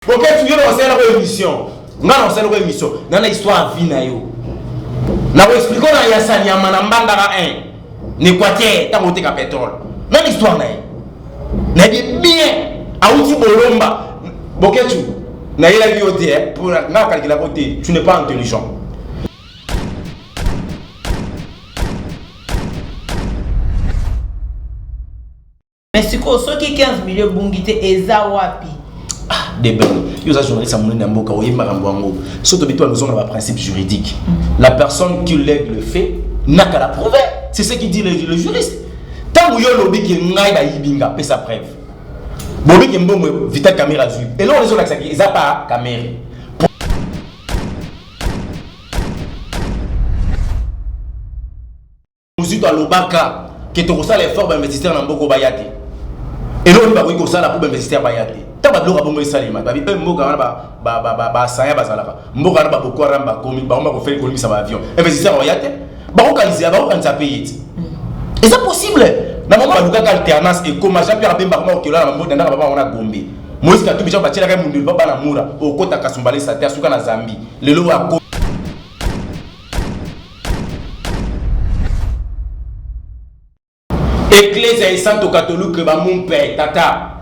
Boketsu yo na osala ko émission. Nga na osala ko émission. Na na histoire vie na yo. Na ko expliquer na ya Sanyama na Mbandaka 1. Ne quoi te tango te ka pétrole. Même histoire na ye. Na ye bien. Auti bolomba. Boketsu. Na yela yo te eh. Pour na kalkela ko te. Tu n'es pas intelligent. mais sikoyo soki 15 million ebungi te eza wapi ah, debel yo oza journaliste ya monene ya mboka oyebi makambo yango so tobi toya kozonga na baprincipe juridique mm. la personne qui lègue le fait naka la prouve c'est ce qui dit le, le juriste ntango yo olobi ke ngai bayibi nga pesa preuve bobi ke mbongo vital camera azwi eloko ezolakisaki eza pa camera mozito alobaka ke tokosala effort bainvestisseur na mboko baya te eloko nini bakoki kosala mpo bainvestisseur baya te ta babiloko ya bongo esalema babi mpe mboka wana basaya bazalaka mboka wana baboko wana bakomi bango bakofeli kolimisa baavion investisseur baya te bakokanisa bakokanisa mpe ye te eza possible na mama balukaka alternance ekoma jean pierre bemba koma okela na mabota ndaka baba wana gombe Moïse Katumbi jean batiela kai mundulu papa na mura okota kasumbale sate asuka na Zambie lelo ako Eklezia esanto katolike bamumpe tata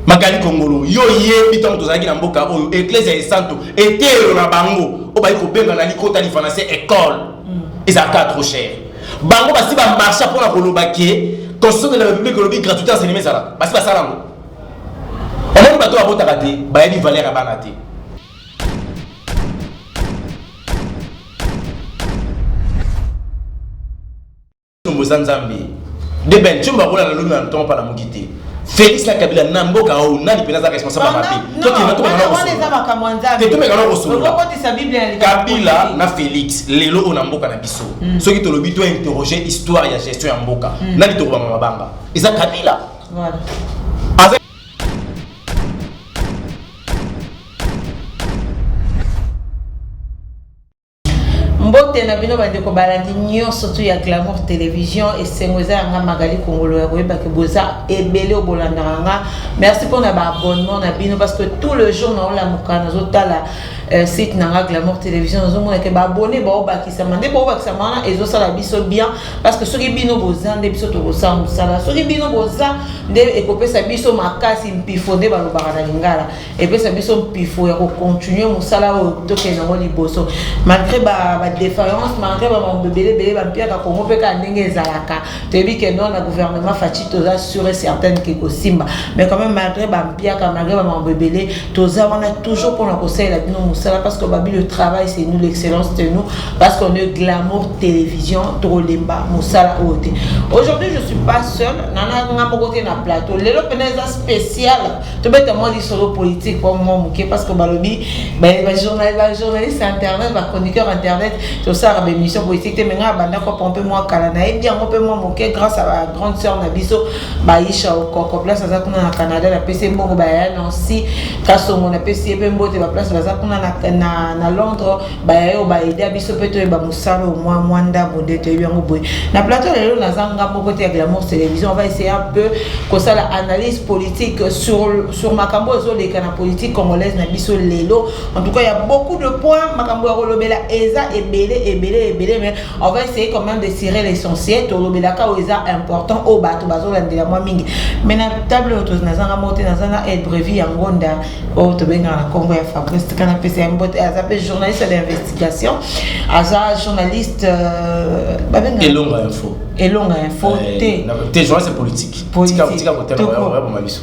makali kongolo yo yebi ntango tozalaki na mboka oyo eklezia esanto eteyelo na bango oyo bayi kobenga na likota lifanase ecole mm. ezalaka trop cher bango basi bamarcha mpo na koloba ke constitution de la république olobi gratuité enseignement ezalaka basi basala yango omoni bato babotaka te bayebi valeur ya bana te boza nzambe de ben tumba kola na luna na ntongo pala moki te félix na kabila na mboka oyo nani mpenza aza responsable ya mabe tokenatomekana kosoloakabila na félix lelo oyo na mboka na biso hmm. soki tolobi to interroger histoire ya gestion ya mboka hmm. nani tokobama mabanga eza kabila mbote na bino bandeko balandi nyonso tu ya glamour télévision esengo eza yanga magali kongolo ya koyebaki boza ebele oyo bolandaka nga merci mpona baabonnement na bino parce que tout le jour naolamuka nazotala euh, site na nga glamour télévision nazomonake baabone baobakisama nde baobakisama wana ezosala biso bien parce que soki bino boza nde biso tokosala mosala soki bino boza nde ekopesa biso makasi mpifo nde balobaka na lingala epesa biso mpifo ya kocontinue mosala oyo tokende yango liboso malgré badéfaillance malgré bamambo ebele ebele bampiaka kongo mpe kaka ndenge ezalaka toyebi ke non na gouvernement faci toza sure certaine ke kosimba mais quand même malgré bampiaka malgré bamambo ebele toza wana toujours mpona kosalela bino mosala parce que babi le travail c'est nous l'excellence de nous parce qu'on est glamour télévision tokolemba mosala oyo te aujourd'hui je suis pas seul nana nga moko te na plateau lelo mpena eza spécial tobeta mwa lisolo politique mpo mwa moke parce que balobi bajournaliste internet bachroniqueur internet tosalaka baémission politique te me nga abanda kopompe mwa kala nayebi yango mpe mwa moke grâce à ba grande sœur na biso baisha okoko place aza kuna na canada napesi ye mbongo baya nancy kasongo napesi ye mpe mbote baplace baza kuna na, na, na londres baya yo baida biso mpe toyeba mosala omwa mwa ndambo nde toyebi yango boye na plateau lelo naza nga moko te ya glamour télévision on va essayer un peu kosala analyse politique sur, sur makambo oyo ezoleka na politique congolaise na biso lelo en tout cas ya beaucoup de points makambo ya kolobela eza ebele ebele ebele mais on va essayer quand même de serrer l'essentiel tolobelaka oyo eza important oyo bato bazolandela mwa mingi mais na table oyo nazanga moko te naza na aide brevi ya ngonda oyo tobengaka na nkombo ya fabrice tika napesa ya mbote aza mpe journaliste d'investigation aza journaliste euh, babenga elonga info elonga info eh, te te journaliste politique tika tika kotema ya bomaliso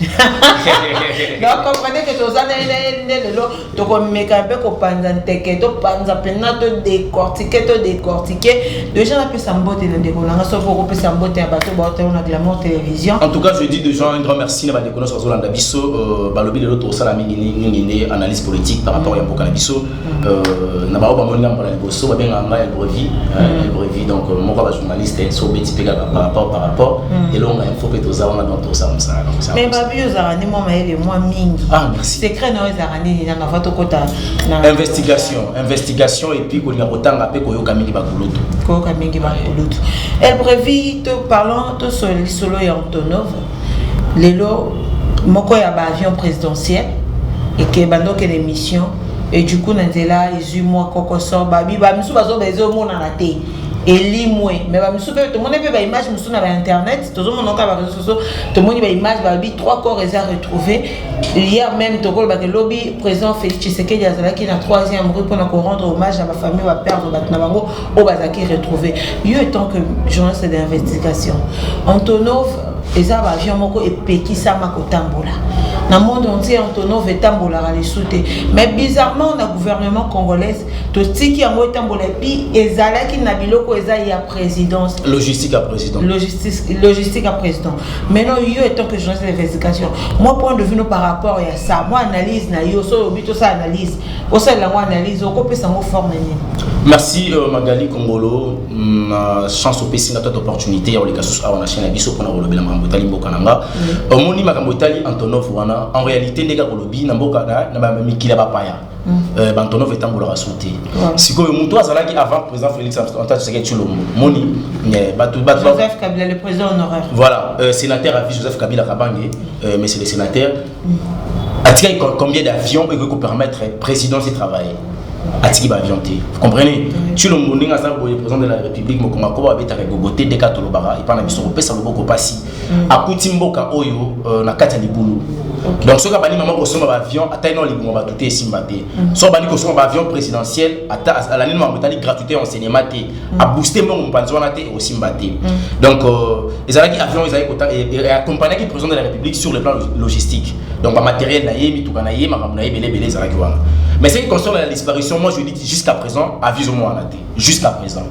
donc comprenez que toza na ye na ye nde lelo tokomeka mpe kopanza nteke topanza mpena to decortike to decortike deja napesa mbote na ndeko na nga soki okopesa mbote ya bato baotalo na glamour télévision en tout cas je dis déjà un grand merci na bandeko nyonso bazolanda biso euh, balobi lelo tosala mingi mingi nde analyse politique par rapport ya mboka na biso mm. euh, na baoyo bamoni ngambo na liboso babengaka ngai elbrevi elbrevi donc euh, moko ya bajournaliste eh, so obeti mpe kaka par rapport par rapport mm. elonga info mpe toza wana donc tosala mosala mais babi ozalaka nde mwa mayele mwa mingi ah, secret na yo ezalaka nini na mava tokota na investigation investigation epuis kolinga kotanga mpe koyoka mingi bakulutu koyoka mingi bakulutu elbrevi to parlant tosolo lisolo ya antonov lelo moko ya baavion présidentiel ekeba ndokende mission et du coup na nzela ezwi mwa kokoso babi bamisu bazoba ezomonana te elimwe me bamisu mpe tomoni mpe baimage mosusu na bainternet tozomona kaka bareseau tomoni ba image balobi trois corps eza retrouvé hier même tokolobaka lobi président félix tshisekedi azalaki na troisième rue mpona korendre hommage na bafamille baperdre bato na bango oyo bazalaki retrouvé yo étant que journaliste d'investigation antonov eza baavion moko epekisama kotambola na monde entier antonov etambolaka lisu te mais bizarrement na gouvernement congolaise totiki yango etambola epi ezalaki na biloko eza ya présidence logistique ya président logistique ya président maintenant yo étant que journaliste d'investigation moi point de vue no par rapport ya ça moi analyse na yo so olobi tosala analyse osalela yango analyse okopesa yango forme nini merci euh, magali kongolo mm, na chance opesi nga tata opportunité ya koleka susu awa na chaine ya biso mpona kolobela makambo etali mboka na nga omoni makambo etali antonov wana en réalité ndenge akolobi na mboka na mikili ya bapaya Mm. Euh, bantonov etambolaka su te sikoyo motu azalaki avant président félix antoine tshisekedi tshilombo moni euh, bato joseph kabila le président honoraire voilà euh, sénateur avis joseph kabila kabange euh, monsieur le sénateur mm. atikaki combien d'avions ekoki kopermettre présidence etravailler atiki baavion te vous comprenez tshilombo ndenge aza boye président de la république mokongo akoba babetaka egogo te deka tolobaka epai na biso kopesa loboko mpasi akuti mboka oyo euh, na kati ya libulu okay. donc soki abandi mama kosomba baavion ata ino libongo bato te esimba te mm. soki abandi kosomba baavion présidentiel ata alandi makambo etali gratuité ya enseignement te mm. abooste mbongo mopanzi wana te ekosimba te mm. donc euh, ezalaki avion ezalaki accompagnaki président de la république sur le plan logistique donc bamateriel na ye mituka na ye makambo na ye ebele ebele ezalaki wana mais ce qui concerne la disparition moi je dis jusqu'à présent aviso mwana te jusqu'à présent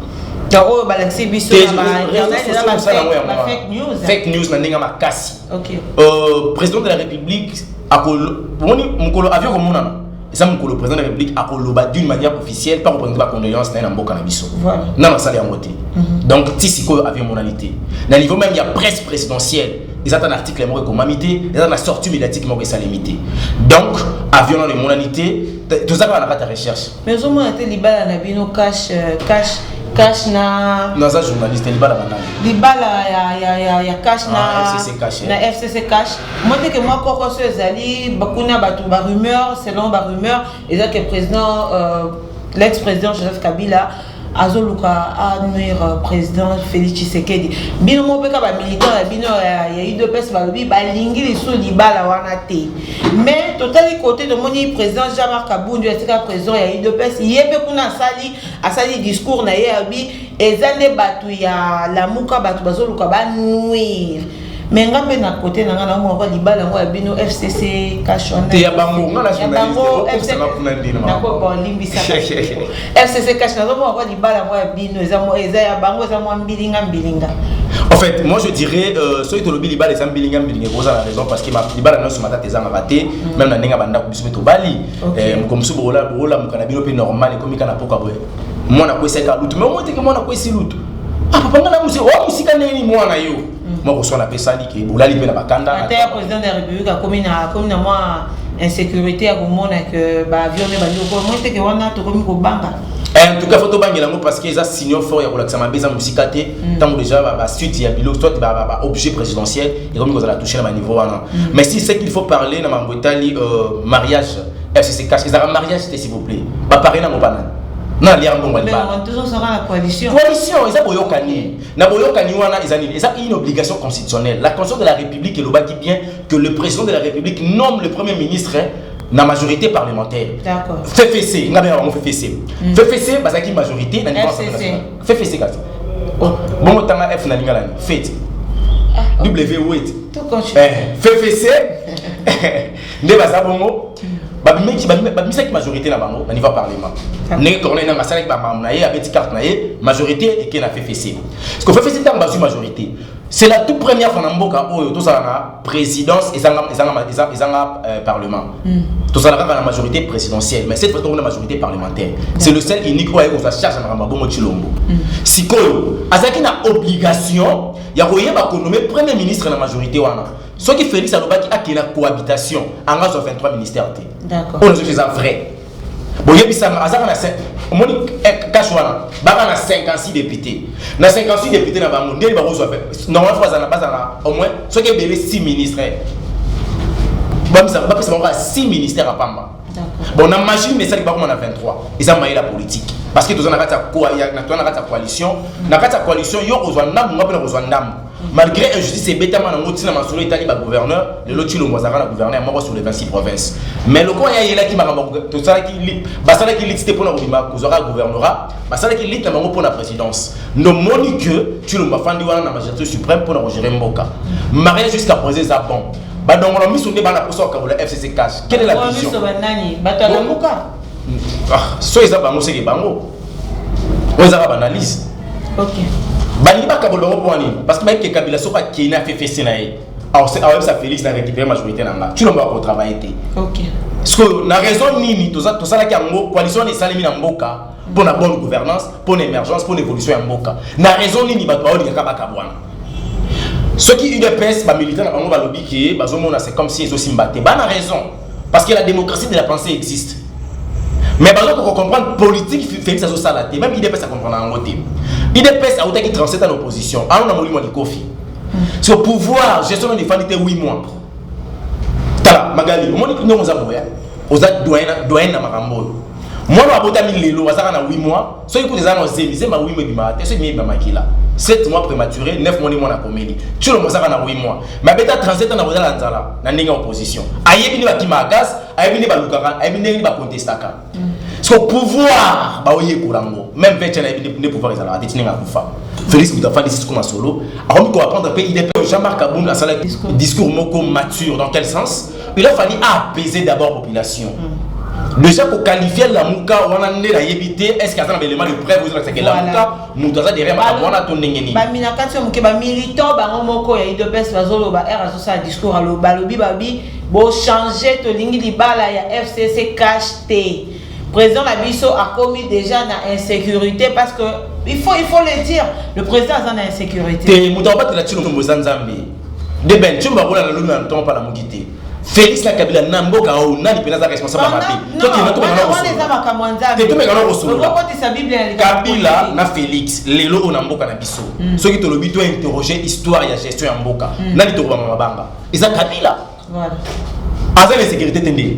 donc oyo balakisi biso fake news fake news na ndenge ya makasi euh, président de la république omoni mokolo avion komonana eza mokolo président de la république akoloba d'une manière officielle mpe akopresente bacondoléance na ye na mboka na biso nano asali yango te mhm. donc ti sikoyo avion emonani te na niveau même ya presse présidentielle eza ata na article moko ekomami te eza na sortie médiatique moko esalemi te donc avion nano emonani te tozalaka na kati ya recherche Mais ozo mona te libala na bino cash euh, cash cash na naza journaliste libala banani libala ya ya ya ya cash na ah, FCC cash na FCC cash moi te que moi koko so ezali bakuna batu ba rumeur selon ba rumeur eza que président euh, l'ex-président Joseph Kabila azoluka a nuire président félix tshisekedi bino moko mpe ka bamilitant ya bino ya udps balobi balingi lisusu libala wana te mais totali kote tomoni président jean marc abundu atika président ya udps ye mpe kuna asali asali discours na ye abi eza nde bato ya lamuka bato bazoluka banuire mais nga mpe na kote na nga naomona kwa libala yango ya bino fcc ya bango nga nalimbisa fcc cash nazomona kwa libala yango ya bino eza ya bango eza mwa mbilinga mbilinga en fait moi je dirais euh, soki tolobi libala eza mbilinga mbilinga ekoza na raison parce que libala nyonso matata ezangaka te mm. meme na ndenge ya bandako biso mpe tobali eh, mokolo mosusu bolamuka na bino mpe normal ekomi kaka na poka boye mwana akwesaki alutu mais omoi teke mwana akwesi lutu ah papa nga na mosika ndenge nini mwana yo mm. moko sona pe sali ke bolali pe na bakanda ata ya président de la république akomi na akomi na mwa insécurité ya komona ke ba avion ne bandi ko moi te ke wana tokomi kobanga eh, en tout cas faut tobangela yango parce que eza signaux fort ya kolakisa mabe eza mosika te mm. ntango déjà basuite ya bilo soit baobjet présidentiel ekomi kozala touche na baniveau wana mm. mais si ce qu'il faut parler na mambo etali euh, mariage fcc cache ezalaka mariage te s'il vous plaît bapare nango banani na lia mbongo libala coalition eza boyokani Na boyokani wana eza nini? Eza une obligation constitutionnelle. La Constitution de la République elobaki bien que le président de la République nomme le premier ministre na majorité parlementaire. D'accord. FFC, nga bena bango FFC. Mm. FFC bazaki majorité na niveau national. FFC kasi. Oh. Bongo tanga F na lingala ni. Fete. Ah, okay. W wait. Tout continue. Eh, FFC nde baza bongo babimaki babimisaki majorité na bango na niveau parlement ndenge corneille nanga asalaki bamambo na ye abeti carte na ye majorité eke na ffc parce que ffc ntango bazwi majorité c'est la toute première fois na mboka oyo tozala na présidence ezanga, ezanga, ezanga, ezanga euh, parlement mm. tozala kaka na majorité présidentielle mais cette fois tokomi na majorité parlementaire mm. c'est le seul unique oyo aye kozwa charge na makambo ya bongo tshilombo mm. sikoyo azalaki na obligation ya koyeba konome premier ministre na majorité wana soki Felix alobaki akela cohabitation anga azwa 23 ministère te oyo nazoki eza vrai boyebisanga azaka na omoni kashe eh, wana baka na 56 député na 56 député na bango ndeni bakozwa normalement fo bazala bazala au moins soki ebele 6 ministre bapesa bango kaka 6 ministère ya pamba bon na machine na esali bakoma na 23 eza maye la politique parce que toza na kati ya coalition na kati ya coalition yo kozwa ndambo nga mpe na kozwa ndambo malgré injustice ebetama nango ntina masolo etali bagouverneur lelo cilombo azalaka na gouverneur moko sur les 26 province mais lokola ye ayelaki makambo tosalaki basalaki lite te mpona kobima kozwaka gouvernorat basalaki lite na bango mpona présidence nomoni que cilombo afandi wana na magistrature suprême mpona kogere mboka maria jusqu'à présent eza bon badongola miso nde bana mposa kokabola fcc cash quelle est la vision bato ya lamuka ah, so eza bango seke bango oyo ezaka baanalyse balingi bakabola bango mpo wanini parce que bayebi ke kabila soki akei na ffc na ye aoyebisa félix na récupéré majorité na nga tulomba bakotravaille te sikoyo na raison nini tosalaki yango coalition wana esalemi na mboka mpo na bonne gouvernance mpo na émergence mpo na évolution ya mboka na raison nini bato baolingaka bakabwana soki udps bamilita na bango balobi ke bazomona c'est comme si ezosimba te bana raison parce que la démocratie de la pensée existe mais bazo ko comprendre politique Félix azo sala te même IDPS a comprendre yango te IDPS awutaki 37 ans na opposition ayo na molimo ya likofi so pouvoir gestion na efandi te 8 mois tala magali omoni ndenge oza boya oza doyen na makambo oyo mwana abotami lelo azaka na 8 mois soki kutu eza na zemi zemi awimo ebimaka te soki ebimi ebima makila 7 mois prématuré 9 mois nde mwana akomeli tshilo mozaka na 8 mois mabeta 37 ans na kozala na nzala na ndenge ya opposition ayebi nde bakimaka gaz ayebi nde balukaka ayebi ndenge nde bakontestaka so pouvoir baoyekola yango même vecha nayebi nde pouvoir ezalaka te tinenge akufa félix moto afandi sisiko masolo akomi koapprendre mpe idp jean marc abund asalaki discours moko mature dans quel sens il a fallu apaiser d'abord population mm. déjà ko qualifier lamuka wana nde nayebi te est ce que aza na baelema de preuve ozolakisa ke lamuka moto aza derrière makambo wana to ndenge nini bamina kati ya moke bamilitant bango moko ya idps bazoloba r azosala discours aloba alobi babi bochange tolingi libala ya fcc cash te président na biso akomi déjà na insécurité parce que il faut, il faut le dire le président aza na insécurité te moto abatela tino moto boza nzambe de ben chumba kola la luna ntoma pa na mukite Félix na Kabila na mboka oyo nani mpenza aza responsable ya mabe tokenda tomekana kosolola Kabila na Félix lelo oyo na mboka na biso hmm. soki tolobi to interroger histoire ya gestion ya mboka hmm. nani tokobama mabanga eza Kabila aza na insécurité te ndenge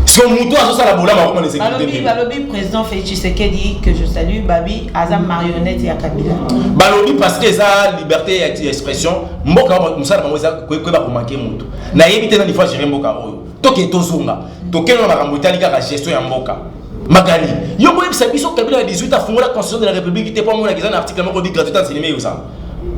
so moto azosala bolama akoma na insécurité balobi président félix tshisekedi que je salue babi aza marionnette ya kabila balobi parce que eza liberté ya expression mboka mosala bango eza koyeba komake moto nayebi te nani fois géré mboka oyo toke tozonga tokende na makambo etali kaka gestion ya mboka Magali, yo ko yebisa biso kabila na 18 afungola constitution de la république te po mona kiza na article moko bi gratuité en cinéma yosa.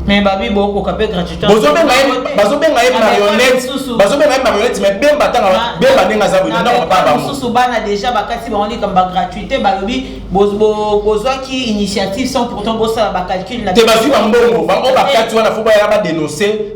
Mais babi boko ka pe gratuité. Bozo benga ye, bazo benga ye marionnette. Bazo benga ye marionnette mais bemba tanga bemba nenga za bino ndako papa bango. Susu bana déjà bakati ba wani kamba gratuité ba lobi bozo bozo ki initiative sans pourtant bosa ba calcul na. Te bazi ba mbongo, ba o bakati wana faut ba ya ba dénoncer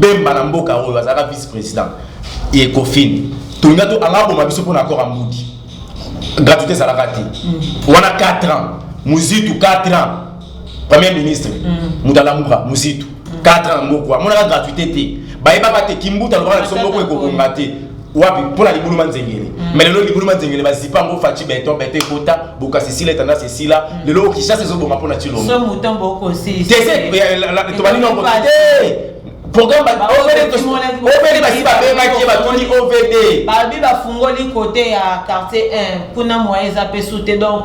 bemba na mboka oyo azalaka vice président ye kofini tolinga to anga aboma biso mpo na accord ya mbudi gratuité ezalaka te mm. wana 4 ans muzitu 4 ans premier ministre mm. moto alamuka muzitu 4 ans moko amonaka gratuité te bayebaka te kimbuta alobaka na biso moko ekobonga te wapi mpo na libulu manzengele mm. me lelo libulu manzengele bazipa yango faci beton beton ekota bokasi sila etanda sesila mm. lelo kishasa ezoboma mpo na cilongotobandi nongo te programme ovd basi babengaki ye batoni ovd babi bafungoli kote ya quartier 1 kuna moyen eza mpe sute donc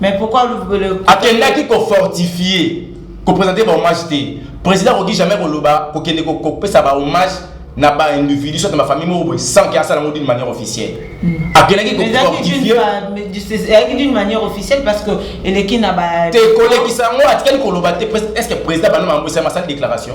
Mais pourquoi vous le... Akendaki ko fortifier, ko présenter ba hommage te. Président Rogi jamais ko loba, ko kende ko pesa ba hommage na ba individu soit ma famille moko sans que asala d'une manière officielle. Hmm. Akendaki ko fortifier. Ezalaki d'une manière officielle parce que eleki na ba Te kolekisa ngo atikali ko loba te est-ce que président bana mambo sa déclaration?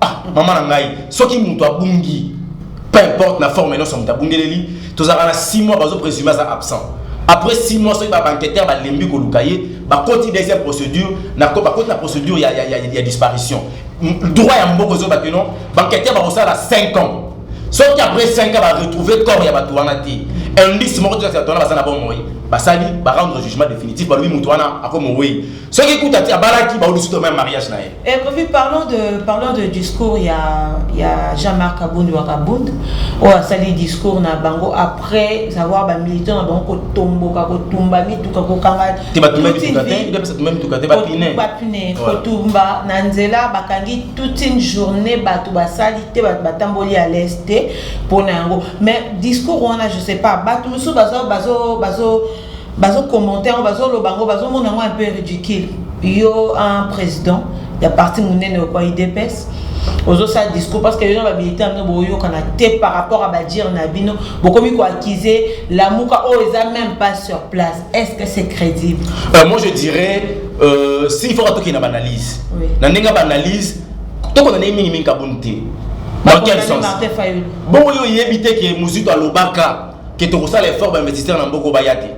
ah mama na ngai soki moto abungi peu importe na forme nyonso moto abungeleli tozalaka na 6 mois bazo présume aza absent après 6 mois soki babanqueteur balembi koluka ye bakoti deuxième procédure bakoti na procédure ya, ya, ya, ya disparition droit ya mboko ezoba ke non banqueteur bakosala 5 ans soki après 5 ans baretrouve corps ya bato wana te indice moko te bato wana baza na bomoi basali barendre jugement définitif balobi moto wana akomowei soki kuta ti abalaki baudi suto meme mariage na ye et puis parlons de parlons de discours ya ya Jean-Marc Kabund wa Kabund oyo oh, asali discours na bango après avoir ba militants na bango kotomboka kotumba mituka kokanga te batumba mituka te nde pesa tumba mituka te bapine bapine kotumba na nzela bakangi toute une journée bato basali te bato batamboli à l'est te mpo na yango mais discours wana je sais pas bato mosusu bazo bazo bazo bazo commenter yango bazo loba yango bazo mona yango un peu ridicule yo un président ya parti monene okwa idps ozosala discours parce que yo na bamilitant bino boyokana te par rapport ya badire na bino bokomi koaccuse lamuka oyo eza même pas sur place est ce que c'est crédible euh, moi je dirais euh, s'il faut atokende na baanalyse oui. na ndenge ya baanalyse tokona ndenge mingimingi kabuni te dans quel sens bongo yo oyebi te ke mozito alobaka ke tokosala effort bainvestisseur na mboko baya te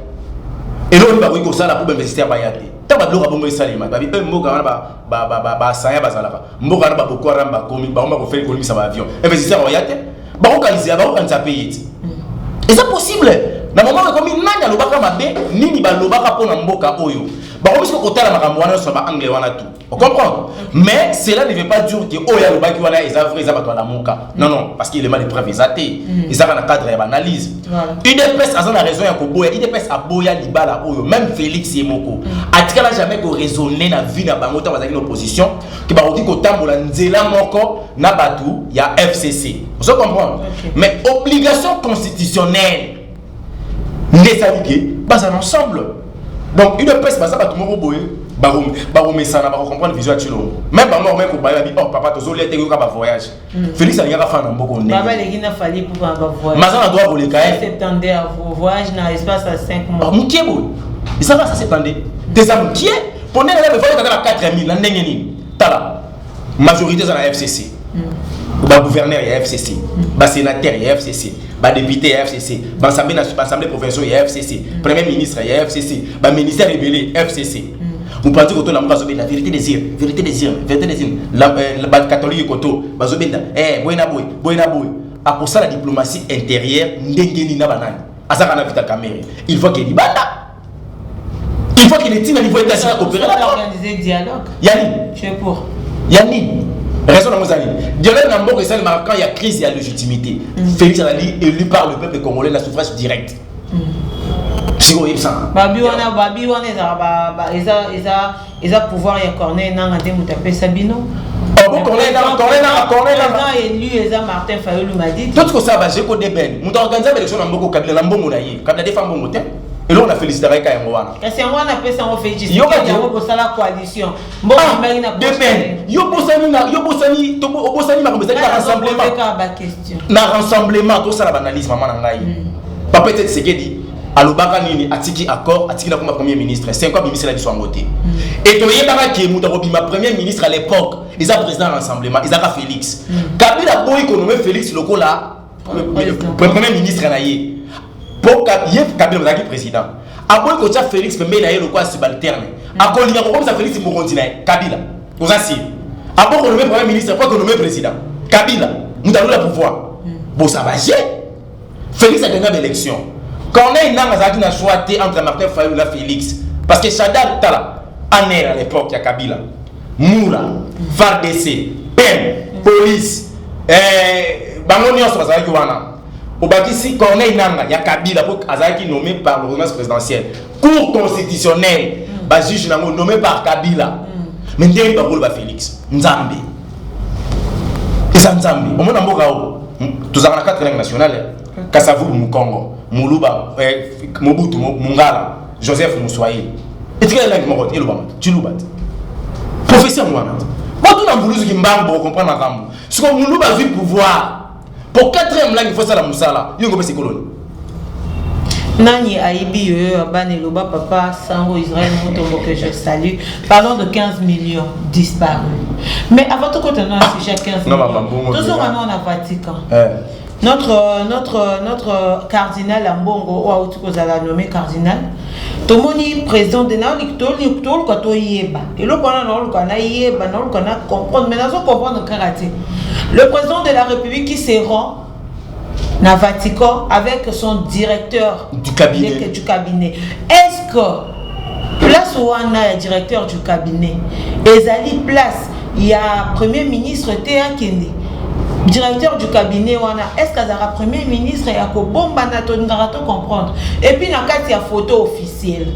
eloko nini bakoki kosala mpo bainvestisseur baya te ntango babiloko ya bongo esalema babi mpe mboka wana basaya bazalaka mboka wana baboko haram bakomi bango bakofeli kolimisa baavion investisseur baya te bakokanisa bakokanisa mpe ye ti eza possible na mama ekomi nani alobaka mabe nini balobaka mpo na mboka oyo bakomisi kokotala makambo wana nyonso na baangle wana tu On comprend Mais cela ne veut pas dire que Oya oh, Lubaki wana eza vrai eza batwa lamuka. Non non, parce qu'il est mal de preuve eza te. Mm. Eza na cadre ya analyse. UDPS aza na raison ya koboya. UDPS aboya libala oyo même Félix Yemoko. Mm. Atikala jamais ko raisonner na vie na bango tant bazali na opposition que ba odi ko tambola nzela moko na batu ya FCC. Vous comprenez Mais obligation constitutionnelle nde esali ke bazala ensemble donc udps baza bato moko boye bakomesana bakocomprendre vision ya cilongo meme bango bakomai kobaya babi or oh, papa tozolia te yoka bavoyage hmm. félix alingaka fana mboko ndemaza na droit koleka mokie boye ezaka sa septande te eza mokie mpo ndenge na bevakaka na 4000 na ndenge nini tala majorité eza na fcc bagouverneur ya fcc basénateur ya fcc badepute ya fcc baassemblée provinciaux ya fcc premier ministre ya fcc baministère ebele fcc mopanzi koto na moko azobenda vérité des yeux vérité des yeux vérité des yeux euh, bacatholique koto bazobenda eh, boye na boye boye na boye akosala diplomatie intérieure ndenge nini na banani azaka na vita camere il faut ke libanda il faut qu'il etinda niveau etasi na opérer na organiser dialogue yani tu es pour yani raison na mozali dialogue na mboka esali marquant il y a crise il y a légitimité mm. Félix Anali élu par le peuple congolais la suffrage direct mm. sikoyo oyebisanga babi wana babi wana ezalaka eza eza eza pouvoir ya corneille nanga nde moto apesa bino toti kosala bajeko deben moto aorganize baelection na mboko kabila na mbongo na ye kabila defa mbongo te eloko na felicitaka eka yango wana kasi yango wana apesa yango felicityango bosala coalition mbokobaki na deben yo bosani na yo bosani obosani makambo ezali na rassemblement na rassemblement tosala baanalyse mama na ngai hmm. bapete tisekedi alobaka nini atiki accord atiki na koma premier ministre cinq abimisela biso yango te mm. e toyebaka ke moto akobima premier ministre à l'époque eza président ya rassemblement ezaka félix mm. kabila aboyi konome félix lokola premier ministre na ye mpo ye kabila azalaki président aboyi kotya félix pembeni na ye lokola subalterne mm. akolinga kokomisa félix mokonzi na ye kabila oza siri aboyi konome premier ministre mpo akonome président kabila moto alola pouvoir bosaba ye Felix a gagné l'élection. Corneille Nanga azalaki na choix te entre Martin Fayulu na Felix parce que Shaddad Tala aner à l'époque ya Kabila Mura FARDC PEM police eh, bango nyonso bazalaki wana obakisi Corneille Nanga ya Kabila po azalaki nommé par l'ordonnance présidentielle cour constitutionnelle mm. bajuge nango nommé par Kabila mm. mais ndenge bakoloba Felix Nzambe eza nzambe omona mboka oyo tozalaka na quatre langue nationale eh. kasavulu mukongo muluba eh, mobutu mungala joseph muswahili etikali langue moko te elobama ciluba te professeur wana botuna mbuluzu kimbangu bokokomprendre makambo siko muluba azwi pouvoir po 4 ya mlangi fo sala musala yo ko pesi koloni nani ayibi yo yo abana eloba papa sango israel motombo que je salue parlons de 15 millions disparu mais avant tokota na sujet 15 millions tozonga nao na vatican eh. notre notre notre cardinal ambongo oyo auti kozala nommé cardinal Tomoni president de na toluka toluka toyeba eloko wana naoluka nayeba naoluka na comprendre mais nazo comprendre kaka te le président de la république qui se rend na Vatican avec son directeur du cabinet, de, du cabinet. est-ce que place wana ya directeur du cabinet ezali place ya premier ministre te akende directeur du cabinet wana est ce que azalaka premier ministre ya kobombana tolingaka to comprendre epuis na kati ya photo officielle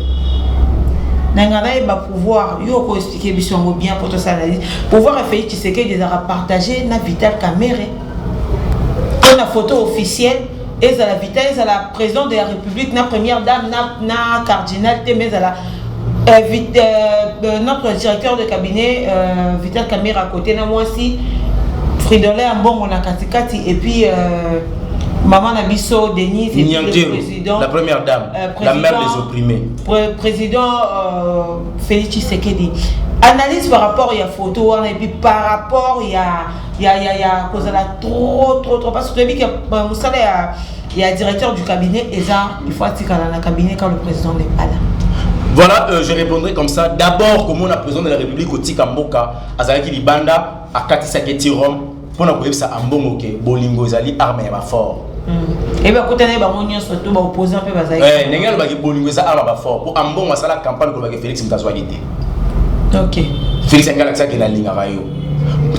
nanga nayeba pouvoir yo okoexplike biso yango bien mpo tosala lise pouvoir ya félix tshisekedi ezalaka partage na vital camere mpo na photo officielle ezala vita ezala president de la republique na première dame na, na cardinal te mais ezala euh, vit, euh, euh, notre directeur de cabinet euh, vital camera côté na mwasi fridole ya mbongo na katikati et puis euh, maman na biso denise et puis le président la première dame euh, président, la mère des opprimés pr président euh, félix tshisekedi analyse par rapport ya photo wana et puis par rapport ya ya ya ya kozala trop trop trop parce que toyebi ke euh, mosala ya ya directeur du cabinet eza il faut atikala na cabinet quand le président n'est pas là voilà euh, je répondrai comme ça d'abord komona président de la république kotika mboka azalaki libanda akatisaki ti rome mpo na koyebisa ambongo ke bolingo ezali arme ya bafort Eh, ndenge alobaki bolingo eza awa bafort mpo ambongo asala campagne kolobaki félix moto azwaki te félix yange alakisaki nalingaka yo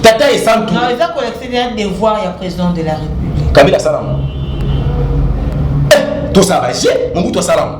tata esantueza kolakisa devoir ya président de la république kabila asalama eh, tosala je mobutu asalama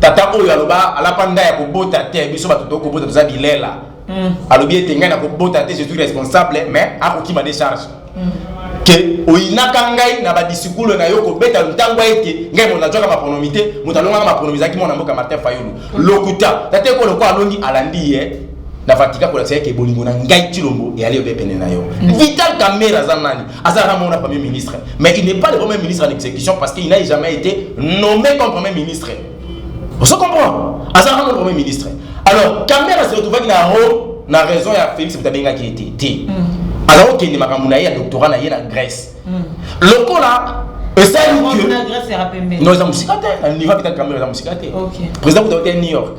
tata oyo aloba alapa nda ya kobota te biso bato to kobota toza bilela mm. alobi ete ngai nakobota te je suis responsable mais akokima de charge mm. ke oyinaka ngai na badisikulo na yo kobeta ntango ete ngai moto nazwaka maponomi te moto alongaka maponomi ezalaki mwana mboka martin fayulu mm. lokuta tata ekolo ko alongi alandi ye na vatika kolakisa yeke bolingo na ngai tilombo eyali yo mpe pene na yo vital kamera aza nani Azala na mona premier ministre, mais il n'est pas le premier ministre en exécution parce qu'il n'a jamais été nommé comme premier ministre. On se comprend Azala na premier ministre. Alors, Kamera se retrouve avec la haut, la raison ya Félix Bitabenga qui était. Ti. Mm. Alors, ok, ni makambo na ye ya doctorat na ye na Grèce. Mm. Lokola esali que Non, eza musika te. Na niveau kita Kamera eza musika te. Président Bitabenga New York.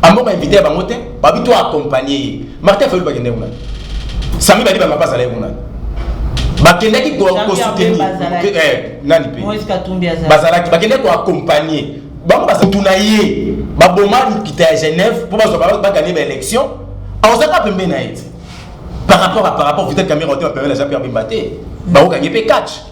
Ambongo invité bango te, babi to accompagner ye. Martin Fayulu bakende kuna. Sami bali ba mapasa la kuna. Bakendaki ko ko soutenir. Eh, nani pe? Moïse Katumbi azali. Bazalaki bakende ko accompagner. Bango basatuna ye. Baboma lukita ya Genève pour bazo ba gagner ba élection. Aozaka pembe na ye. Par rapport à par rapport peut-être Camille Rotem pembe na Jean-Pierre Bemba te. Baokangi pe catch.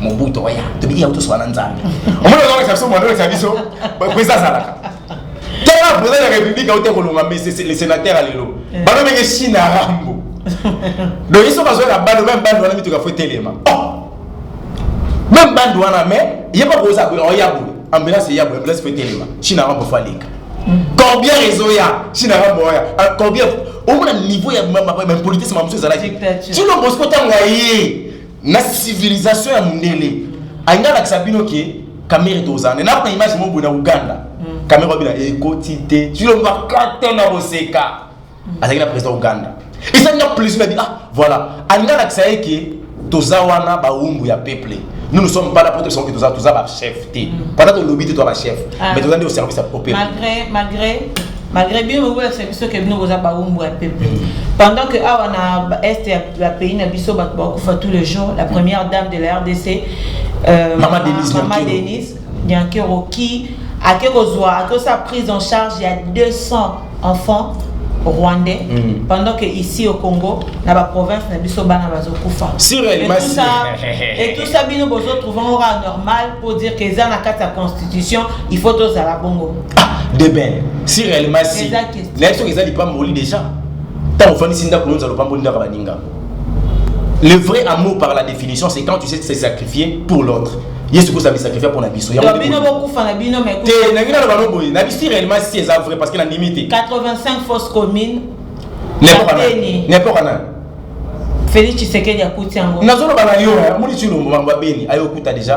mobutu oya tobi ya tosoba na nzambe omona ozoka biso mwana oyo biso pesa azalaka tala president ya république auta kolonga le sénateur ya lelo eh. bano menge chine arambo donc iso bazwa na bando meme bando wana mituka fo etelema oh! meme bando wana mais ye mpa koza boye oya boye ambulance eya boye ambulance fo etelema chine arambo fo aleka mm. combien réseau ya chine arambo oya ah, combien omona niveau ya impolitesse ma mosusu ezalaki tino bosco ntango ya ye na civilisation ya mundele ainga alakisa bino ke kamere tozana na kuna image moko boye na uganda mm. kamere wabila ekoti te tilobaka te na koseka mm. azalaki na président uganda ezali na plaisir na bi ah voilà alinga alakisa ye ke toza wana bawumbu ya peuple nous ne sommes pas là pour te sentir toza toza ba chef te mm. pendant tolobi te toza ba chef ah. mais toza nde au service ya peuple malgré malgré malgré bino bokolakisa biso ke bino boza baumbu ya peuple pendant que awa na est ya bapays na biso bato bakufa tous les jours la première dame de la rdc euh, mama denise nyankero qui ake kozwa ake kosala prise en charge ya 200 enfants rwandais mm. pendant que ici au Congo na ba province na biso bana bazokufa et tout ça et tout ça bino bozo trouver aura normal pour dire que eza na kati ya constitution il faut tozala bongo ah deben si réellement si nayebi soki eza lipamboli déjà ntango ofandisi ndako nonza lopamboli ndaka baninga le vrai amour par la définition c'est quand tu sais se sacrifier pour l'autre yesu kosa bisakrifia mpo na biso te nangi naloba no boye nabisi réellement si eza vrai parce que nandimi te 85 fausse commune n'importe na félix tshisekedi akuti yango nazoloba na yo moni tilombo mambo ya beni ayokuta déjà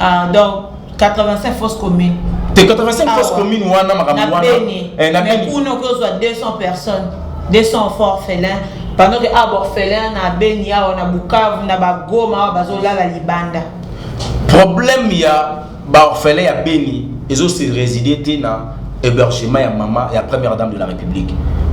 ah donc 85 fausse commune te 85 ah, fausse commune wana makambo wana eh, na beni kuna okozwa 200 personnes 200 enfants orphelins pendant que awa ah, baorphelin na beni awa na bukavu na bagoma awa bazolala libanda problème ya baorphelin ya beni ezosi réside te na hébergement ya mama ya première dame de la république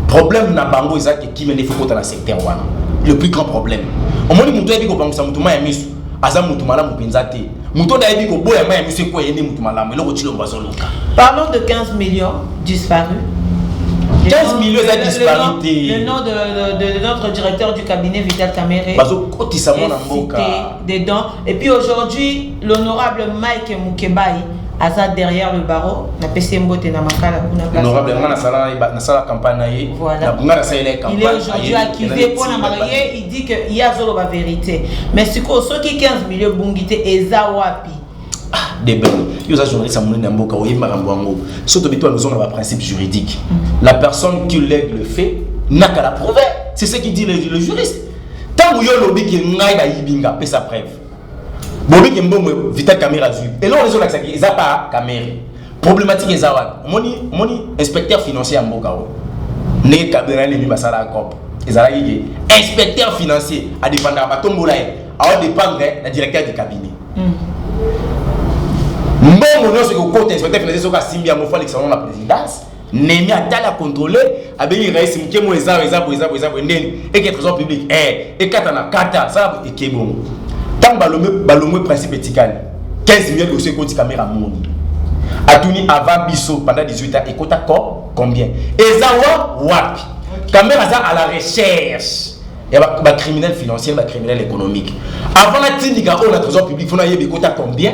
problème na bango eza ke kimia nde fokota na secteur wana le plus grand problème omoni moto ayebi kobangisa moto ma ya miso aza mutu malamu mpenza te moto oyo ayebi koboya mai ya miso ekwa ye nde moto malamu eloko cilombo azoluka parlons de 15 millions disparu 15 millions eza disparu te le nom de, de, de notre directeur du cabinet vital camere bazokotisa mwana mboka dedans et puis aujourd'hui l'honorable mike mukebai aza derrière le barreau napesi ye mbote na makala kunahonorable nga nasala campagne na ye nga nasalela ye campagne il est aujourd'hui accuvé mpo na maye dit que ye azoloba verite mais sikoyo soki 15 milio ebungi te eza wapi ah, debel yo oza journaliste ya monene ya mboka oyebi makambo yango so tobi to alozonga baprincipe juridique mm. la personne qui lègue le fait naka la prouve c'est ce qui dit le, le juriste ntango yo olobi ke ngai bayibi nga pesa preuve bobi ke mbongo vita camera azwi eloko ezolakisaki eza pa camera Problematique eza wapi? Omoni omoni inspecteur financier ya mboka oyo. Ndenge Kabila nini basala COP. Ezalaki ke inspecteur financier a dépendaka batombola ye. Awa dépendre na directeur du cabinet. Mm. Mbongo nyonso ekokota inspecteur financier soki asimbi yango fo alekisa yango na présidence. nemi atali akontrole abengi rais moke mo eza eza boye eza boye eza boye ndeni eke trésor public e ekata na kata sala eke bongo ntango balongwe principe etikali 15 million dosie ekoti kamera moni atuni avant biso pendant 18 ans ekota ko combien eza wa wapi kamera aza à la recherche ya bacriminel financier bacriminel économique avant natindika oyo na trésor public mpo nayebi ekota combien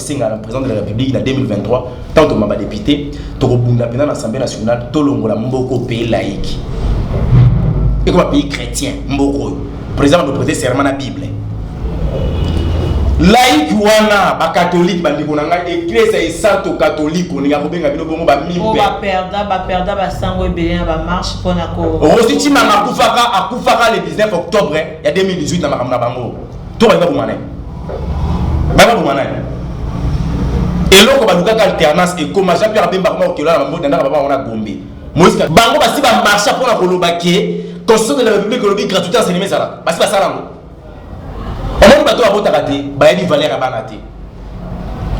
senga na president de la republique na 2023 tant toma ba député tokobunda mpena na assemblée nationale tolongola mboko pays laïque ekoma pays chrétien mboko oyo président na boprete serment na bible laïque wana bakatolike bandeko na ngai eklesa esanto katoliko ndenge akobenga bino bongo bamiperda baperda basango ebele na bamarche mpona ko rosi cimanga akufaka akufaka le 19 octobre ya 2018 na makambo na bango to balinga boma naye bana boma naye eloko balukaka alternance ekoma jean pierre bemba akoma kokelola na mabota ndaka baba wana gombe moïse bango basi bamarcha mpo na koloba ke constitution de la république olobi gratuité enseignement ezalaka basi basala yango omoni bato babotaka te bayebi valeur ya bana te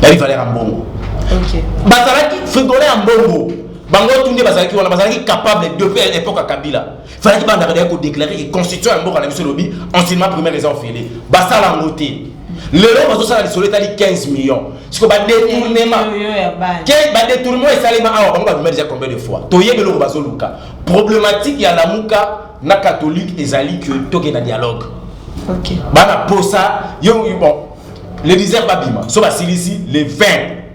bayebi valeur ya mbongo bazalaki frigole ya mbongo bango tu nde bazalaki wana bazalaki capable depuis epoque ya kabila fallaki bandaka daya kodeklare ke constitution ya mboka na biso elobi enseignement primaire eza ofele basala yango te lelo bazosala lisolo etali 15 million siko badetournement badetournement esalema awa bango babima deja combien de fois toyebi eloko bazoluka problématique ya lamuka na catholique ezali ke tokenda dialogue bana posa yo bon le 10 babima so basilisi le 20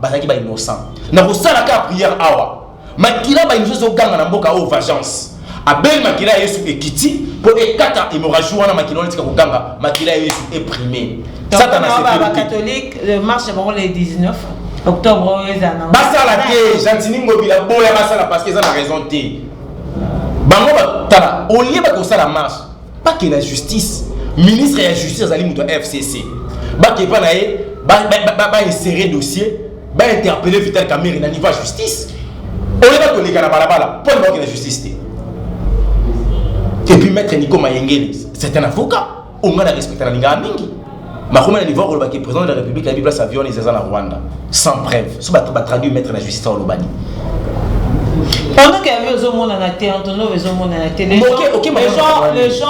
bazalaki ba innocent na kosala kaka prière awa makila ba innocent ezoganga na mboka oyo vengeance abeli makila ya yesu ekiti mpo ekata hémorragie wana makila wana etika koganga makila ya yesu eprime satana catholique le marche ya bango le 19 octobre oyo ezala nango basala te gentini ngobila boya basala parce que eza na raison te bango batala olie bakosala marche pas que la justice ministre ya justice azali moto ya fcc bake epai na ye baesere dossier bainterpele vital camere na niveau ya justice oyo bakoleka na balabala mpo na bakende justice te epuis maître nico mayengeli c'est un avocat onga na respecta na lingaka mingi bakoma na niveau akoloba ke président de la république ayebi place avion eza eza na rwanda sans preuve so batraduit maître na justice olobani pendant que avion ezomonana te antonov ezomonana te les gens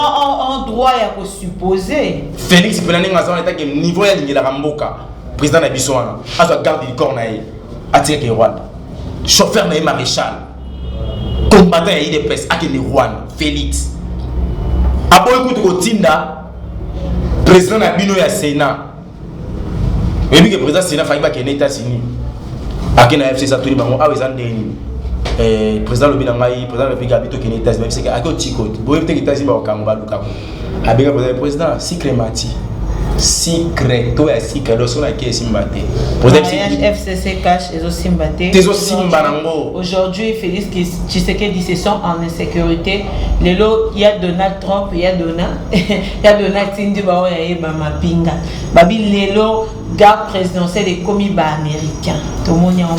ont droit ya kosupposer félix mpena ndenge aza wana etake niveau ya lingelaka mboka président na biso wana azwa garde du corps na ye atikaki rwanda chauffeur na ye maréchal combattant ya idps akende rwanda félix aboyi kutu kotinda president na bino ya senat oyebi ke president senat faki bakende etats-unis ake na fcc atuni bango awa eza ndenge nini eh, président lobi na ngai président lobi gabi tokende états-unis babiseke ake otiko boyebi teke états-unis bakokango balukango abenga président président sikre mati sikre to ya sikre do soki nake esimba te fcc cash ezosimba te tezosimba nango aujourd'hui félix tshisekedi se sont en insécurité lelo ya donald Trump ya dona ya dona tindi ba oya ye ba mapinga babi lelo garde présidentielle ekomi ba américain tomoni yango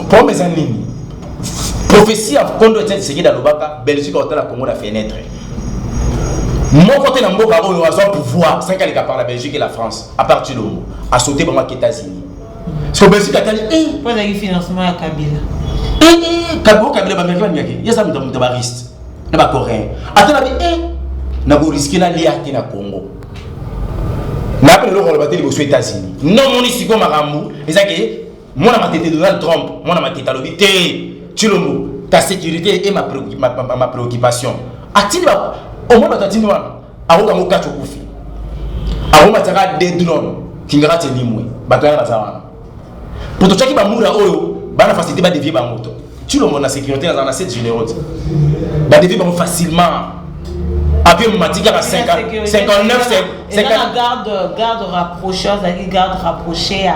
problème eza nini prophétie ya kondo etienne tshisekedi alobaka belgique akotala congo na fenêtre moko te na mboka oyo azwa pouvoir sanki aleka par la belgique et la france à part tshilombo asaute bango ake états-unis so belgique atali mpo ezalaki financement ya kabila kabila kabila bamericain bamiyake ye aza moto ya moto bariste na ba coréen ata na bi e eh, na ko risque na lia te na congo nayebi lelo koloba te liboso états-unis no moni sikoyo makambo eza ke mwana matete donald trump mwana matete alobi te cilombo ta sécurité e ma, ma, ma, ma préoccupation atindi omona bato atindi wana akoka ngo kati okufi akomatiaka de drone kingaka te limwe bato yana baza wana pototyaki bamura oyo bana facilité badevie bango to tilongo na sécurité aza na 7 généraux te badevie bango facilement apui matiki kaka 59 garde rapproché azalaki garde rapproché ya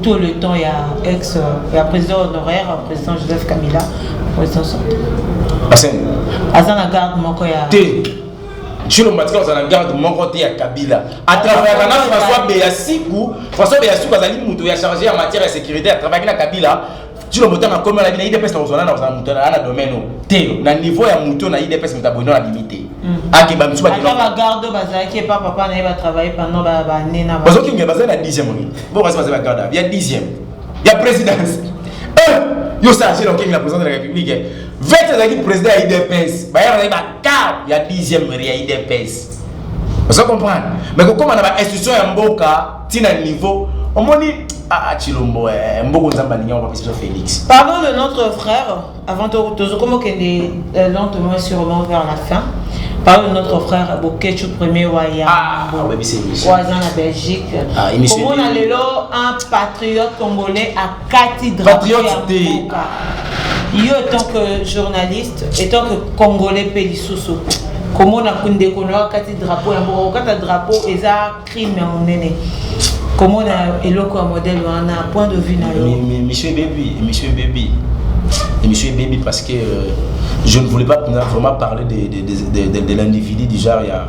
tout le temps ya ex ya président honoraire président joseph kabila président sorti aza na garde moko ya te Tshilombo atika kozala garde moko te ya Kabila atravayaka na François Beyasiku François Beyasiku azali moto ya charge ya matière ya sécurité atravayaki na Kabila Tshilombo ntango akomi alabi na idps na kozwana na kozala moto aa na domaine oyo te na niveau ya moto na idps moto aboyino na bimi te akeba misusu bazokenge bazali na dixième oyo bokasi bazali bagarde ya dixième ya présidence yo sarge na okenge na président de la république vete azalaki président ya idps bayana car ya dixième ya idps oza comprendre mais kokóma na bainstitution ya mboka ntina niveau omoni ah, ah, chilombo eh, mboko nzambe alingi yango bapesa biso félix pardon de notre frère avant tozokoma okende euh, lentement et sûrement vers la fin pardon de notre frère bokechu premier wa ya ah, oza na belgique komona lelo un patriote congolais kati drapeau ya patriote te mboka. yo etant que journaliste etant que congolais mpe lisusu komona ku- ndeko na yo akati drapeau ya mboka kokata drapeau eza crime ya monene komona eloko ya modele wana point de vue na yo Mi- mi- Monsieur Baby, Monsieur Baby, et Monsieur Baby parce que euh, je ne voulais pas vraiment parler de, de, de, de, de, de l'individu du genre, il y a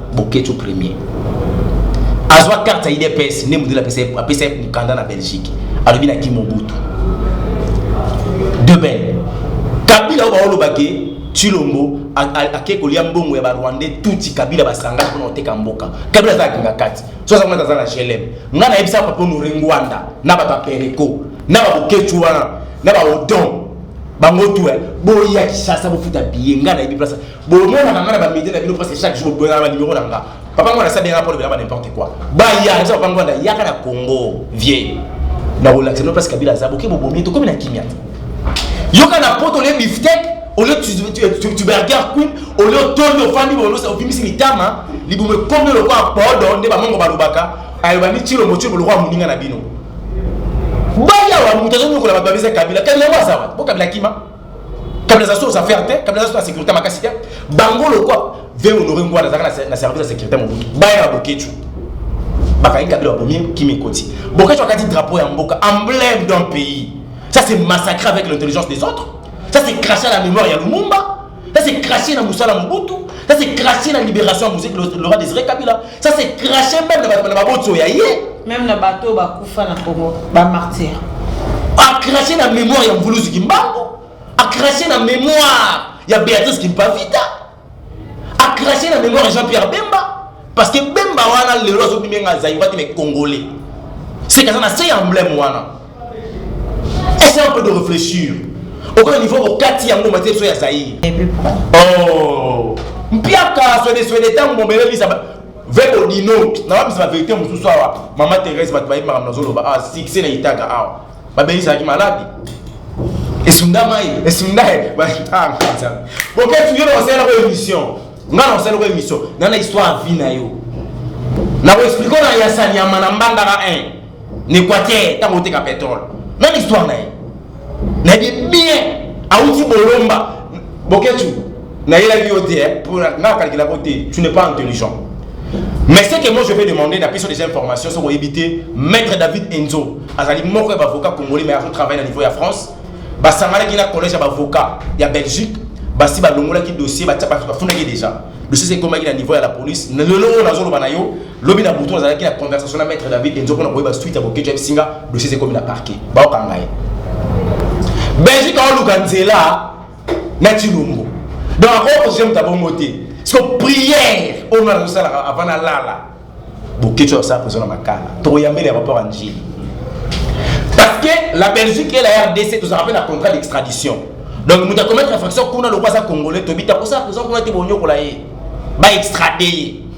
Boketsho premier azwa carte ya idps nde modele apesa ye mokanda na belgique alobi na kim mobutu deben kabila oyo baolobake tshilombo ake kolia mbongo ya barwandais tuti kabila basangani mpona koteka mboka kabila aza akinga kati so aza kuna aza na glm ngai nayebisa papa nore ngwanda na bato ya pereko na baboketshu wana na baodon bango tu boya kishasa bofuta biye ngai nayebi place bomonaka nga na bamedie na bino presque chaque jour boyaka banimero na nga papa ngo nasali yanga mpo lobela ba n'importe quoi baya eza papa ngo na yaka na congo vieux nakolakisa bino place kabila aza boke bobomi tokomi na kimia te yoka na poto olie biftek olie tuberger queen olie otoli ofandi obimisi mitama libumu ekomi lokola podo nde bamongo balobaka aloba ni tilo motio lokola moninga na bino bayawa moto azonyokola bato babisa kabila kabila yango aza wapi bo kabila kima kabila aza so aux affaires te kabila aza so na sécurité makasi te bango lokwa ve honore ngwana azalaka na service ya sécurité mobutu baya na boketshu bakangi kabila babomi kimi ekoti boketshu akati drapeau ya mboka emblème d'un pays ça c'est massacré avec l'intelligence des autres ça c'est craché à la mémoire ya lumumba ça c'est craché na mosala mobutu ça c'est craché na libération ya moseki lora desiré kabila Ça c'est cracher même na bato na babotso ya ye. Même na bato oyo bakufa na Congo, ba martyrs. A cracher na mémoire ya Mvuluzi Kimbangu, a cracher na mémoire ya Beatrice Kimpavita, a cracher na mémoire ya Jean-Pierre Bemba parce que Bemba wana lelo azobimi nga Zaïrois te mais Congolais. C'est kaza na se ya emblème wana. Essaye un peu de réfléchir. Au niveau au kati ya ngoma te so ya Zaïre. Oh. Mpiaka so de so de tango bombele lisa ba. Vek Odino, na ba bisa vérité mususu awa. Mama Thérèse bat bayi makambo nazo loba. Ah, succès na itaga awa. Ba beli sa ki malade. Esunda mai, esunda e. Ba ah, kanza. Bon, qu'est-ce que tu veux dans cette émission? Nga dans cette émission, dans l'histoire vie na yo. Na ko expliquer na ya sanyama na mbandaka 1. na equateur ntango oteka petrole meme histoire na ye nayebi bien awuti bolomba boketu nayelaki yo te eh, mpo nga akalkelako te tu n'es pas intelligent mais ce que moi je vais demander na biso des informations soki oyebi te maître david enzo azali moko ya bavocat congolais mais azotravaille na niveau ya france basanganaki na collège ya bavocat ya belgique basi balongolaki dossier bafundaki déjà dossier ekomaki na niveau ya la police lelo oyo nazoloba na yo lobi na butu nazalaki na conversation na maître david enzo mpona koyeba suite ya boketwa yebisi nga dossier eza ekomi na parquet baokanga ye belgique aoluka nzela na tilombo donc akokosia moto abongo te siko prière oyo nga nazosalaka avant nalala boketwa osala prezo na makala tokoyambela ya rapport ya njili parce que la belgique et la rdc tozalaka mpe na contrat d'extradition donc moto akomettre infraction kuna lokola aza congolais tobita kosala prezo kuna te bonyokola ye baextrade ye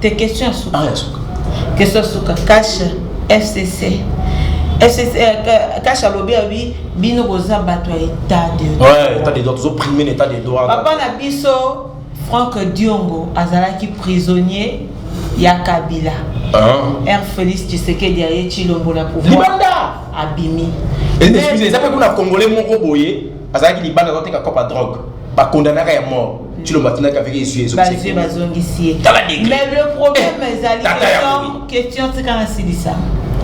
te question ya suka ah, ya suka question ya suka cash fcc fcc euh, cash alobi abi bino boza bato ya état de ouais, état de droit tozo prime na état de droit papa na biso frank diongo azalaki prisonnier ya kabila ah. r félix tshisekedi aye tshilombo na pouvoir abimi eza mpe kuna congolais moko boye azalaki libanda azoteka copa drogue bakondanaka ya mort tshilombo atindaki avec ezwi ezobazwi bazongisi ye tala degre mais le problème eh, ezali question question tika nasilisa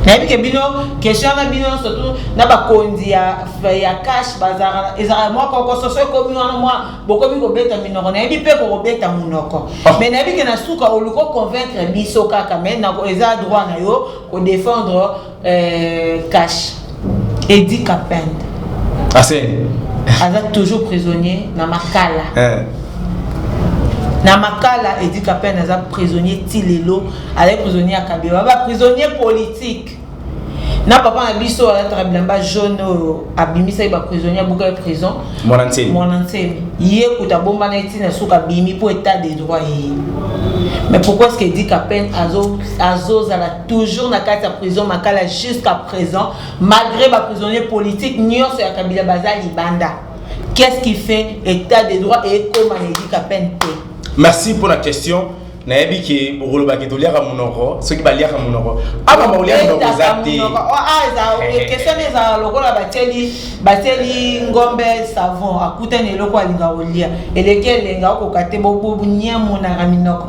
nayebi ke bino question na bino surtout na bakonzi ya, ya cash bazalaka ezalaka mwa kokososo ekomi wana mwa bokomi kobeta minoko nayebi mpe kokobeta monoko ah. mais nayebi ke na suka oluki oconvaincre biso kaka mais eza droit na yo kodefendre Euh, cash. Eddie Kapend. Ah, c'est. Aza toujours prisonnier na Makala. Eh. na makala edi kapene aza prisonnier ti lelo azali prisonnier ya kabila ba prisonnier politique na papa na biso alataka bilamba jaune oyo abimisaki baprisonnier abukaki prison mwana nsemi ye kuta abombana eti na suka abimi mpo etat de droit eye mais pourquoi ce que edi kapene azozala toujours na kati ya prison makala jusqu'à présent malgré ba prisonniers politiques nyonso ya kabila baza libanda qu'est-ce qui fait état de droit et ekoma na edika peine te merci pour la question nayebi ke okolobaki toliaka monoko soki baliaka monoko awa bakolia monoko eza te question ezala lokola batieli batieli ngombe savon akutani eloko alinga kolia eleki elenga okoka te bobonye monaka minoko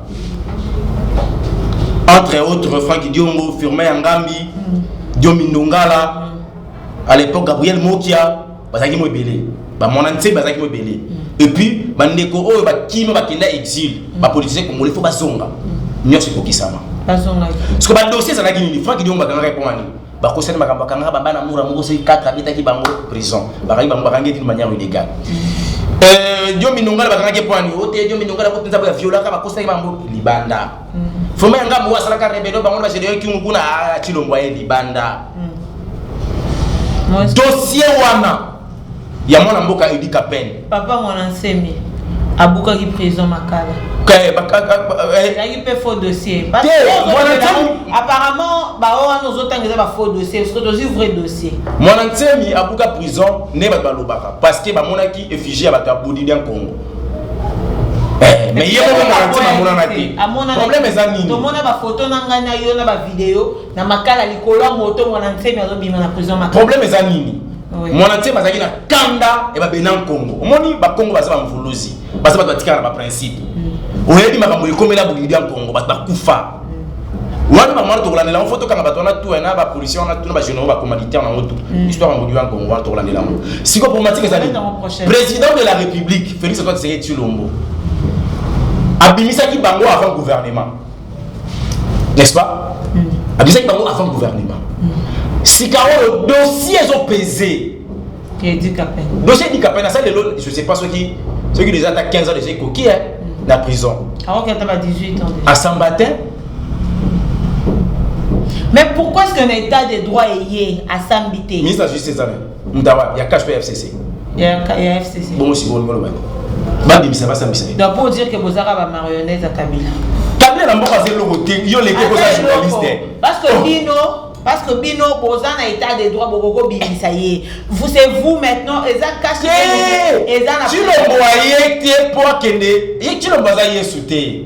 Entre autres, Franck Diongo, Firmin Yangambi, Diomi Ndongala, à l'époque Gabriel Mokia, bazaki mo ebele. Ba mwana nse bazaki mo ebele. Et puis ba ndeko oyo ba kima ba kenda exil, ba politiciens congolais faut bazonga. Nyonso ekokisama. Bazonga. Parce que ba dossiers ezalaki nini? Franck Diongo bakanga répondre nini? bakosani makambo akangaka babana mura moko soki 4 abetaki bango prison bakangi bango bakangi ete manière illégal euh, dio minongala bakangaki mpo ani ote dio minongala ko mpenza boya violaka bakosaki bango libanda mm. foma ya ngambo asalaka rebelo bango na bagedeon kingu kuna ah, chilombo aye libanda mm. dossier wana ya mwana mboka Eddy Kapend. Papa mwana nsemi abukaki prison makala. Eh, ezalaki mpe faux dossier. Parce que apparemment baoyo wana ozotanga eza ba faux dossier soki tozwi vrai dossier. Mwana nsemi abuka prison nde bato balobaka parce que bamonaki effigie ya bato ya Budi dia Congo. mais ye moko maratini amonana te problème eza nini tomona bafoto na ngai na yo na bavideo na makala likolo ya moto mwana nsemi azobima na prison makala problème eza nini mwana ntie bazalaki na kanda ya babena nkongo omoni bakongo baza bamvuluzi baza bato batikala na baprincipe mm. oyebi makambo ekomela bokili bya nkongo bato bakufa mm. wana bamwana tokolandela yango fo tokanga bato wana tuya na bapolisi wana tuna bagénéraux bacommanditaire na yango tu mm. histoire ya mbokili ya nkongo wana tokolandela yango sikoyo problematique ezali président de la république félix antoine tshisekedi tshilombo abimisaki bango avant gouvernement n'est-ce pas mm. abisaki bango avant gouvernement mm. sika oyo dossier ezopese dossier edikape na sa lelo je sais pas soki soki déjà ata 15 ans déjà ekoki e mm. na prison asamba te mais pourquoi est-ce qu'un état de droit eye asambi te ministre ya justice ezali Moto ya wapi? Ya cash ya FCC? Ya, ya FCC. Bongo sikoyo olingi oloba nini? Babimisa basambisa ye. Donc pour dire que bozaka ba marionnettes ya Kabila. Kabila na mboka aza eloko te, yo leke koza journaliste. Parce que oh. bino parce que bino boza na état de droit bokoko bimisa ye vous c'est vous maintenant eza kasi eza na tilombo aye te mpo akende ye tilombo aza yesu te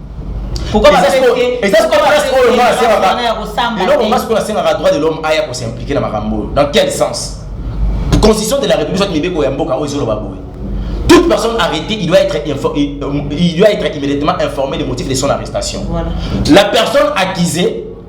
eloko masi mpo nasengaka droit de l'homme aya kosimplike na makambo oyo dans quel sens constitution de la république soit mibeko ya mboka oyo ezoloba boye toute personne arrêtée il doit être euh, il doit être immédiatement informé des motifs de son arrestation voilà. la personne accusée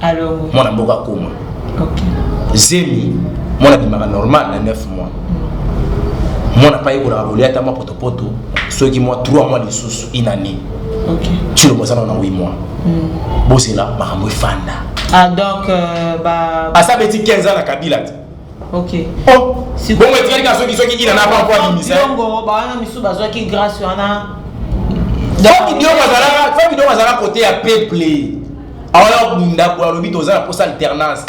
alongo mwana mboka akoma okay. zemi mwana bimaka normal na 9 mois mm. mwana pa yekolaka kolia ata mwa potopoto soki mwa 3 mois lisusu une année okay. tshilo bozana na 8 mois mm. bozela makambo efanda ah, donc euh, ba... asa beti 15 ans na kabila te okay. oh. bongo etikali kaka soki soki ina na banko abimisa yango bawana misusu bazwaki grâce wana fabidiongo azalaka kote ya peuple awana bunda boye alobi toza na posa alternance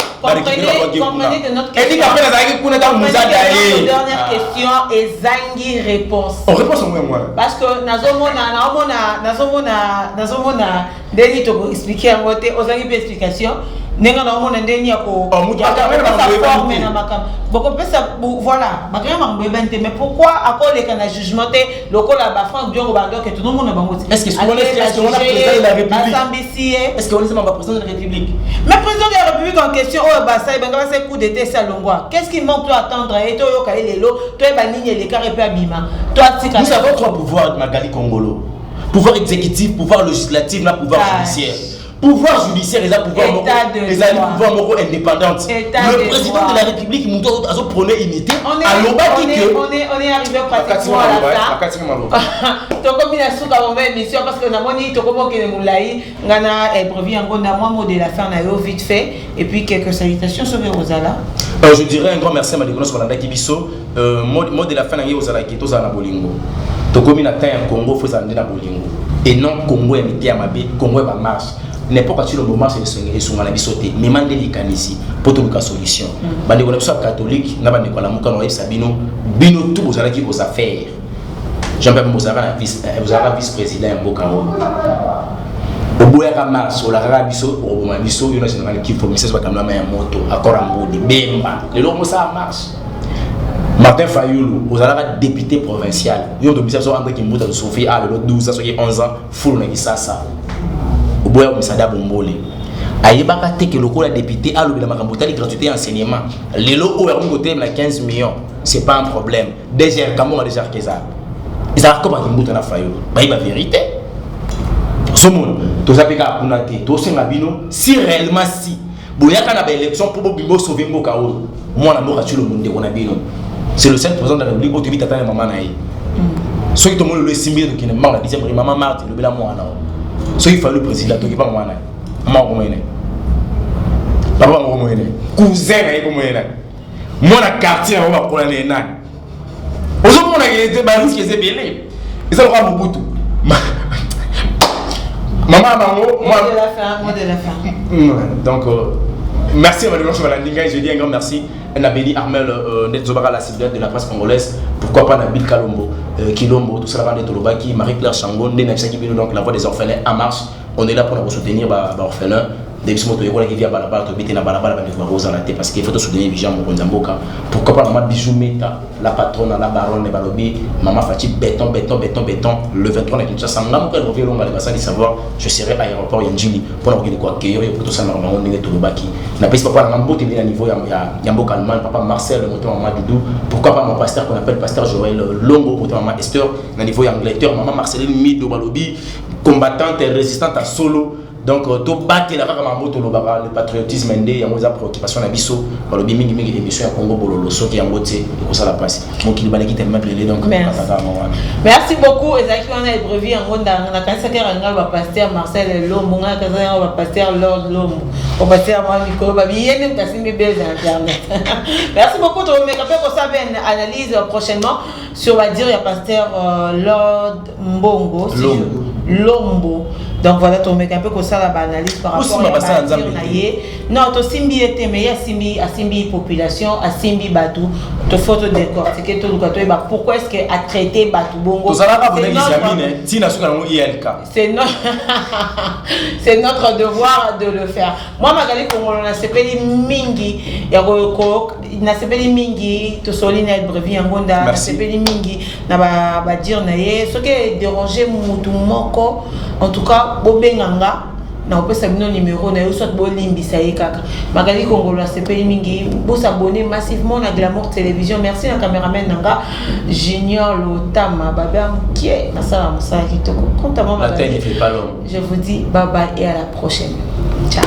etika mpe nazalaki kuna ntango mozada ye dernière question ezangi réponse réponse yango yango parce que nazomona naomona nazomona nazomona ndeni tokoexplike yango te ozangi mpe explication ndenge naomona ndeni ya koforme na makambo bokopesa voilà bakanga makambo boyebani te mais pourquoi akoleka na jugement te lokola ba Franck Diongo ba ndoke tout le monde na bango ti est-ce que on est est-ce qu'on a président de la république asambisi est-ce qu'on est membre président de la république mais président de la république en question oyo ba sai banga ba sai coup d'état ça longwa qu'est-ce qui manque toi attendre et to yoka lelo to ba nini et les carré pe abima toi tika nous avons trois pouvoirs Magali Kongolo pouvoir exécutif pouvoir législatif na pouvoir judiciaire pouvoir judiciaire eza pouvoir moko ezali pouvoir moko indépendante le président de la république moto azo prône unité alobaki tokomi na suka moma émission parce que namoni tokomi okende molai ngai na brevi yango na mwa mot de la fin na yo vite fait et puis quelques salutations soki ekozala euh, je dirais un grand merci à madeko nyonso balandaki biso Euh, mode, mode de la fin na ngai ozala ke tozala na bolingo tokomi na temps ya congo fo ezala nde na bolingo et non congo ya mite ya mabe congo ya bamarche n'importe asilo bomarche esunga na biso te mema nde likanisi mpo toluka solution mm. bandeko na biso ya katholike na bandeko ya lamuka na oyebisa bino bino tu bozalaki vos affaires jean pierre bozalaka na vice eh, vice président ya mboka oyo oboyaka mars olakaka biso okoboma biso yo na général kifo misese bakamlama ya moto akora mbudi bemba lelo omosala mars Martin Fayulu, ozalaka député provincial. Yo tobisa so André Kimbuta to Sophie a lelo 12 soki 11 ans fulu na Kisasa. Oboya komisada bombole. Ayebaka te ke lokola député alobela makambo tali gratuité ya enseignement. Lelo oyo akomi kotelema na 15 millions, c'est pas un problème. DGR Kambonga déjà kezala. Ezalaka koma Kimbuta na Fayulu. Bayeba vérité. Somon, toza pe kaka kuna te. Tosenga bino si réellement si Boyaka na ba election mpo bobimi bosove mboka oyo. Mwana mboka Tshilombo ndeko na bino. C'est le seul président de la République oyo toyebi tata na mama na ye. Mm. Soki tomoni lelo esimbi ye tokende mbango na dixième rue mama Marthe lobela mwana oyo. Soki fali président tokipa mama na ye. Mama okomona ye. Papa okomona ye. Cousin na ye okomona ye. Mwana quartier na bango bakola na ye nani? ozomona ete bariske eza ebele eza lokola mobutu mama ya bango donc euh, merci madame nyonso balandi ngai je dis un grand merci na beni armel euh, nde tozobaka la civile de la presse congolaise pourquoi pas na bill kalombo euh, kilombo tosalaka nde tolobaki marie claire chango nde nayebisaki bino donc la voix des orphelins en marche On est là pour nous soutenir ba, ba orphelins. nde biso moto toyekolaki via balabala toyebi te na balabala bandeko bakozala te parce que faut tosoutenir vision mokonzi ya mboka pourquoi pas mama bijou meta la patrona la baronne balobi mama faci beton beton beton beton le 23 na kinshasa nga moko ekoki elonga le basali savoir je serai à aéroport ya njili mpo na kokende koakeyo yo mpo tosalaka bango ndenge tolobaki napesi papa nanga mbote nde na niveau ya mboka allemagne papa marcel moto ya mama doudou pourquoi pas mon pasteur qu'on appelle pasteur joël longo moto ya mama esther na niveau ya angleterre mama marceline mido balobi combattante résistante ya solo donc euh, tobatela kaka makambo tolobaka le patriotisme nde yango eza préoccupation na biso balobi mingi mingi émission ya congo bololo soki yango te ekosala mpasi mokili baleki te mablele donc kataka yango wana merci beaucoup ezalaki wana ebrevi yango ndanga nakanisaki yaka ngai bapaster marcel lombo ngai nakanisaki yango bapaster lord lombo bapaster mwa mikolo babiye nde moto asimbi bel na internet merci beaucoup tokomeka mpe kosala mpe analyse prochainement sur badire ya paster euh, lord mbongo lombo donc voilà tomeka mpe kosala baanalyse par rapport ya batir na ye non tosimbi ye te mais ye asimbi asimbi population asimbi bato tofo todecortike toluka toyeba pourquoi est ce que atraite bato bongotozalaka bonekisiamine ntina soki yango ilk c'est notre devoir de le faire moi mazali kongolo nasepeli mingi ya nasepeli mingi tosoli na ebrevi yango nda nasepeli mingi na badire ba na ye soki ederange motu moko en tout cas bobenga nga nakopesa bino numero na yo soit bolimbisa ye kaka magali kongolo asepeli mingi bosabone massivement na glamour télévision merci na cameraman na nga junior lotama babe ya mokie nasala mosala kitoko compte à moi magali je vous dis bye bye et à la prochaine ciao